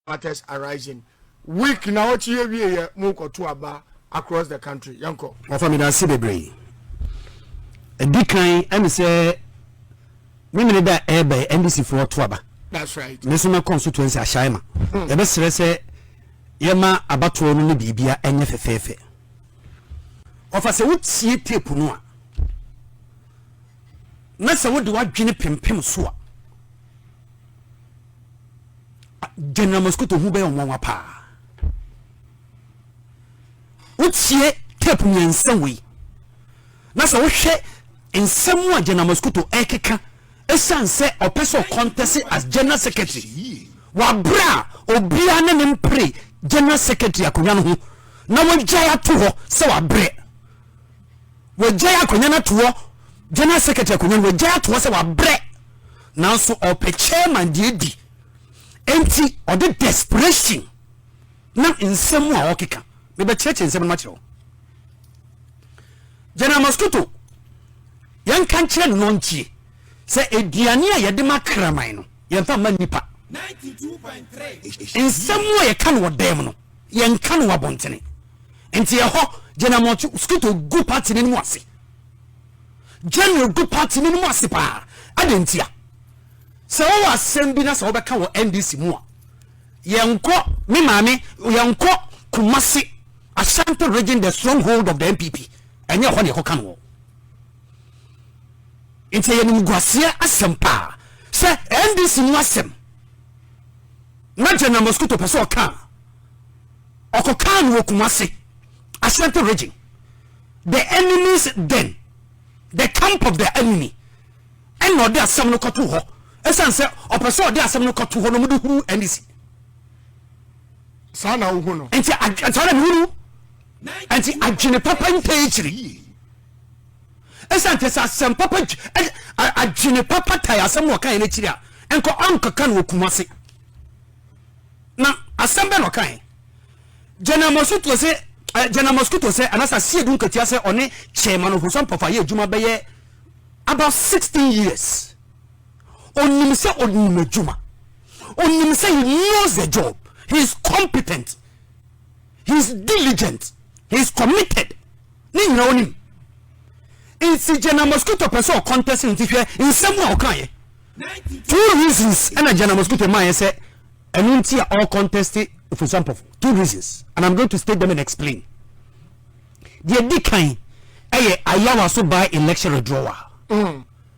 matters arising week na ɔkye yɛ wie yɛ mo kɔto aba across the country yɛn kɔ. wafa mi dansi bebree ɛdi kan ɛne sɛ mímini da ɛɛbɛ ndc foɔ to aba that's right ne nso mɛkɔ nso tuansi ahyɛn ma hmm. yɛbɛsrɛ sɛ yɛma abatoɔ no ne biribia ɛnyɛ fɛfɛɛfɛ. Ɔfa sɛ wotie tape no a, na sɛ wode w'adwene pempem so a, General Mosquito ho bɛyɛ nwanwa paa. Wotie tape mmiɛnsa wei, na sɛ wohwɛ nsɛm a General Mosquito ɛkeka ɛsiane sɛ ɔpɛ sɛ ɔkɔntɛse as General Secretary wɔ abere a obiara ne ne mpere General Secretary akonnwa no ho na wɔagyae ato hɔ sɛ wɔabrɛ. Wɔagyae akonnwa no ato hɔ, General Secretary akonnwa no, wɔagyae ato hɔ sɛ wɔabrɛ. Nanso ɔpɛ chairman deɛ adi. Enti ɔde desperation nam nsɛm mu a ɔkeka. Mebɛkyerɛkyerɛ nsɛm no makyerɛ wo. General Mosquito, yɛnka nkyerɛ no na ɔntie sɛ aduane a yɛde ma kraman no, yɛmfa mma nnipa. Nsɛm a yɛka no wɔ dan mu no, yɛnka no wɔ abɔntene nti ɛhɔ gyinamoto skuto gu party no mu ase general gu party no mu ase paa adɛn ntia sɛ wowɔ asɛm bi na sɛ wobɛka wɔ ndc mu a yɛnkɔ me maame yɛnkɔ kumase ashanti region the stronghold of the npp ɛnyɛ ɛhɔ ne ɛkɔka no wɔ nti ɛyɛ nimguaseɛ asɛm paa sɛ ndc mu asɛm Na General Mosquito pɛ sɛ ɔka no, ɔkɔkaa no wɔ Kumasi, Ashanti region. The enemy's den, the camp of the enemy, ɛna ɔde asɛm no kɔtoo hɔ. Ɛsiane sɛ ɔpɛ sɛ ɔde asɛm no kɔto hɔ na wɔde huru NDC. Saa na wohu no. Nti saa na mehu no. Nti adwene papa ntaa akyiri. Esiane nti, sɛ asɛm papa dw, ɛ, a, adwene papa tae asɛm na ɔkaeɛ no akyiri a, ɛnkɔ ɔnkɔka no wɔ Kumase. Na asɛm bɛn na ɔkaeɛ? General Mosquito sɛ, ɛ, General Mosquito sɛ, anaasɛ Asiedu Nketia sɛ ɔne Chairman Ofosu Ampɔfo ayɛ adwuma bɛyɛ about 16 years. Ɔnim sɛ ɔnim adwuma. Ɔnim sɛ he knows the job. He is competent. He is diligent. He is committed. Ne nyinaa onim. Nti General Mosquito pɛ sɛ ɔkɔntɛse nti hwɛ nsɛm a ɔkaeɛ. Two reasons ɛna General Mosquito maayɛ sɛ ɛno nti a ɔkɔntɛste Ofosu Ampɔfo. Two reasons and I'm going to state them and explain. Deɛ di kan ɛyɛ Ayawa so by election withdrawal. Mm.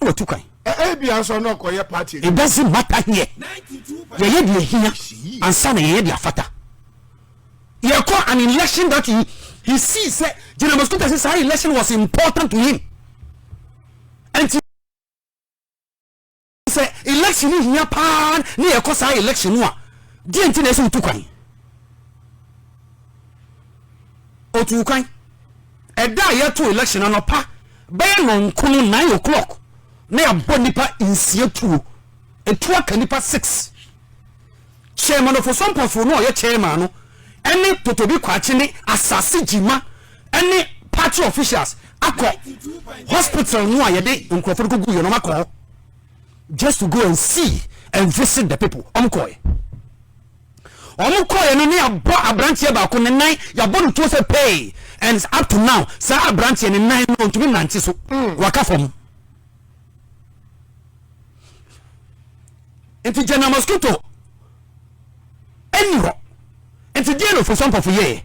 na watu kwan. Ebia nso na ɔkɔyɛ party adwuma. It doesn't matter here. Yɛyɛ deɛ ehia ansa na yɛyɛ deɛ afata. Yɛkɔ an election that he he sees sɛ General Mosquito sɛ saa election was important to him. Nti sɛ election no hia paa ne yɛkɔ saa election no a deɛ nti na ɛsɛ wotu kwan. Otu kwan. Ɛda a yɛto election anɔpa bɛyɛ nnɔnkono, nine o'clock, na yɛabɔ nnipa nsia tuo. Etuo aka nnipa six. Chairman of Osompafoɔ no a ɔyɛ chairman no ne Totobi Kwakye ne Asase Gyima ne party officials akɔ hospital no a yɛde nkurɔfoɔ no kɔgu yɛ no akɔ hɔ just to go and see and visit the people. Wɔkɔɛ. Wɔn kɔeɛ no na yɛabɔ abranteɛ baako ne nan yɛabɔ no tuo sɛ pee and up to now saa abranteɛ ne nan no ɔntumi nante so waka fam. Nti gyana mosquito ɛni hɔ nti deɛ na ofirisɔmpɔfo yɛɛ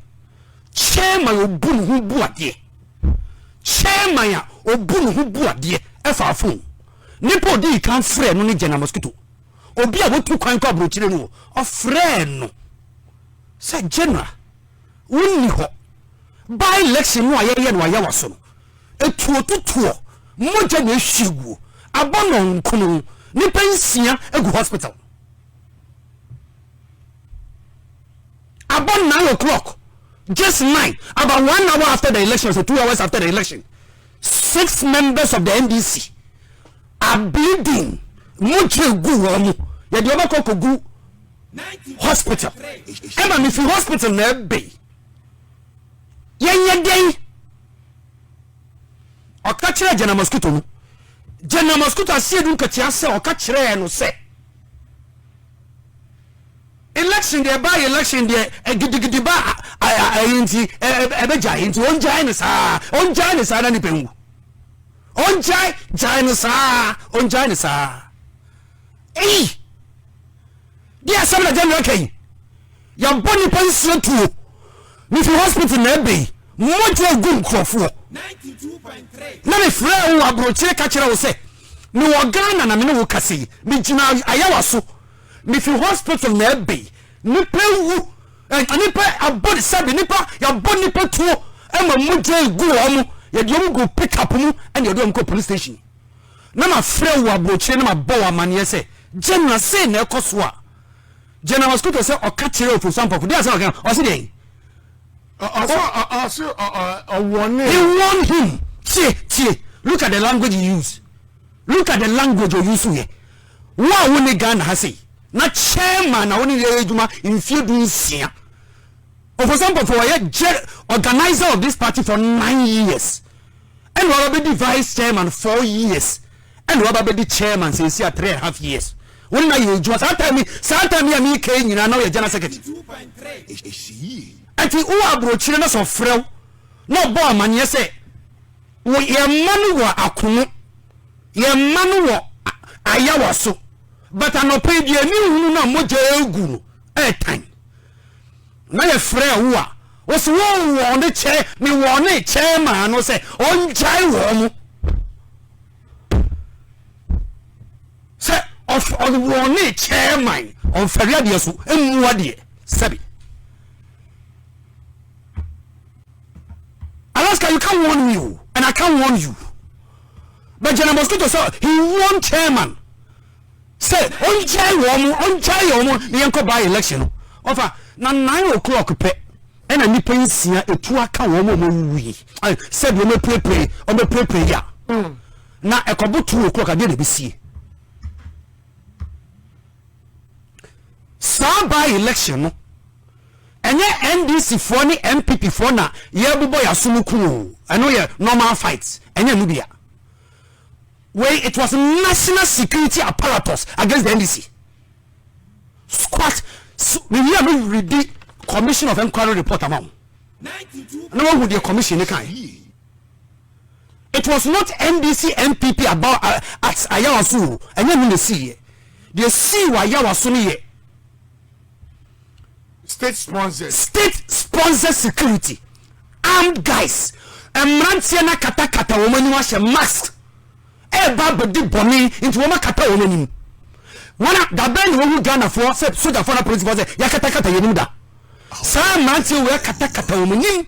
chairman obu ne ho bu adeɛ chairman a obu ne ho bu adeɛ ɛfa afon nipa odii kan frɛ no ne gyana mosquito. obi a wotu kwan kɔ aburokyire no ɔfrɛɛ no sɛ general wonni hɔ by election no a yɛyɛ no ayɛ waso no etuo tutuɔ mogya na ehwie guo abɔ no nkono nipa nsia egu hospital abɔ nine o'clock just nine about one hour after the election so two hours after the election Six members of the NDC are bleeding mogya gu wɔn mu yɛde wɔn akɔ kogu hospital ɛma me fi hospital na ɛbɛn yɛnyɛ dɛn ɔka kyerɛ gyana mosquito no gyana mosquito aseɛ du nkakyia sɛ ɔka kyerɛɛ no sɛ Election deɛ ɛbaa election deɛ gidigidi ba ɛyi nti ɛbɛgyae nti ɔngyae no saa ɔngyae no saa na nipa nwu ɔngyae gyae no saa ɔngyae no saa eyi deɛ asɛm na general kɛyi yɛbɔ nipa nsuo tuo ne fi hospital na ɛbɛ yi mmɔgya egu nkurɔfoɔ na ne frɛ wo aburokyire ka kyerɛ wo sɛ mewɔ ghana na mene wo kasa yi megyina ayawa so Mifi hospital na ɛbɛyi nipa awu ɛɛ nipa abɔ sɛbi nipa yabɔ nipa tuo ɛma mogya egu wɔn yɛde wɔn gu pick up mu ɛna yɛde wɔn kɔ police station na ma frɛ wo aburokyire na ma bɔ wo amaneɛ sɛ general sɛ na ɛkɔ so a general mosquito sɛ ɔka kyerɛ ofo sampɔfo deɛ asɛ ɔka ɔsi deɛ ɔsi ɔwɔne he warn him tie tie look at the language you use look at the language you use yɛ Wo a wonni Ghana ha sei, na chairman na wo ne no yɛ adwuma mfeɛ du nsia. Ofosa Mpofoɔ wayɛ ger organiser of this party for nine years. Ɛna waba bɛdi vice chairman four years. Ɛna waba bɛdi chairman seesei a three and half years. Wo ne no ayɛ adwuma saa time yi, saa time yi a meeka yi nyinaa na woyɛ general secretary. Ɛnti wowɔ aburokyire na sɛ ɔfrɛ wo na ɔbɔ amaneɛ sɛ wo yɛn mma no wɔ akono. Yɛn mma no wɔ ayawa so, but anɔpa yi deɛ ani nhunu no a mogya regu no ɛretan. Na yɛfrɛɛ wo a, wose wowɔ ne kyɛ, mewɔ ne kyɛ maa no sɛ ɔngyae wɔn mo. Sɛ ɔwɔ ne kyɛ man, ɔmfɛre adeɛ so, mmua deɛ, sɛbi. Alaska you can't warn me o and I can't warn you but General Mosquito sɛ he warn chairman sɛ ɔngyae wɔn mo ɔngyae yɛ wɔn mo na yɛnkɔ by election no ɔfa na nine o'clock pɛ ɛna nipa nsia etu aka wɔn mo wɔn wuwu yi sɛ deɛ wɔn apirepire wɔn apirepire yi a na ɛkɔbo two o'clock adeɛ na ebi sie. Saa by election no ɛnyɛ NDC foɔ ne NPP foɔ na yɛbobɔ yaso no ku oo ɛno yɛ normal fight ɛnyɛ ɛno bia wei it was national security apparatus against the NDC squat mewie a me redi commission of inquiry report ama wo na wahu deɛ commission ne kae It was not NDC NPP aba at Ayawa so o, ɛnyɛ ɛno na ɛsiiɛ. Deɛ ɛsii wɔ Ayawa so no yɛ state sponsored state sponsored security armed guys mmeranteɛ no akatakata wɔn anim ahyɛ mask ɛreba abɛdi bɔne nti wɔn akata wɔn anim wɔn a dabɛn na wɔhu Ghanafoɔ sɛ sogyafoɔ na polisifoɔ sɛ yɛakatakata yɛn anim da saa mmeranteɛ wɔ yɛakatakata wɔn anim